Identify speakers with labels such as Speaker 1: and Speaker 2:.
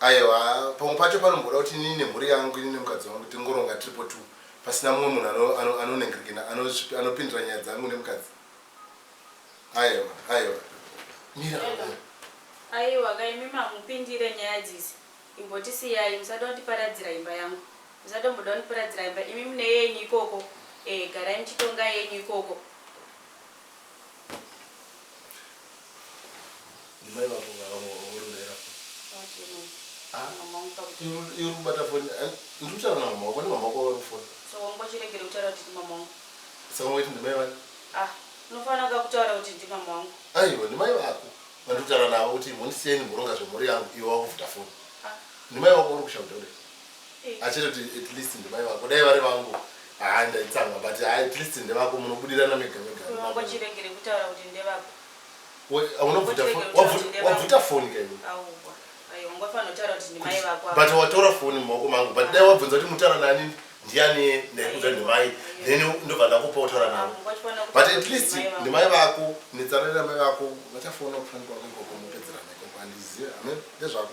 Speaker 1: Aewa pamwe pacho panomboda kuti inini nemhuri yangu ini nemukadzi wangu tingoronga tiripo two pasina mumwe munhu ano, ano, anonengerekena ano, anopindira nyaya dzangu nemukadzi. Aewa, aewa. Mira amai. Aiwa ka imi mamupindire nyaya dzisi imbotisiyai musada kundiparadzira imba yangu musatomboda kundiparadzira imba imi mune yenyu ikoko eh garai muchitonga yenyu ikoko. Mai vako vakamurondera. Ah, iri kubata foni. Eh, ndiri kutaura namama wako, kwani mama wako vari kufona? So wangochiregere kutaura kuti ndimama wangu. Saka waiti ndimai vani? Ah, unofanira ka kutaura kuti ndimama wangu. Aiwa, ndimai vako. Vandiri kutaura navo kuti mhondisiyeni muronga zvemhuri yangu, iwe wakuvuta foni. Ah. Ndimai wako uri kushaudha kudai. achitoti at least ndimai vako dai vari vangu haa ndaitsamwa but haa at least ndevako munobudirana mega mega unongochiregere kutaura kuti ndevako wabvuta foni kaiwe but watora foni mumaoko mangu but dai wabvunza kuti mutaura nani ndiani ndaikuza ndimai then ndobva ndakupa kutaura navo but at least ndimai vako netsararira mai vako vachafona kufanikwa kwekokomupedzerana ikoko andizive ame ndezvako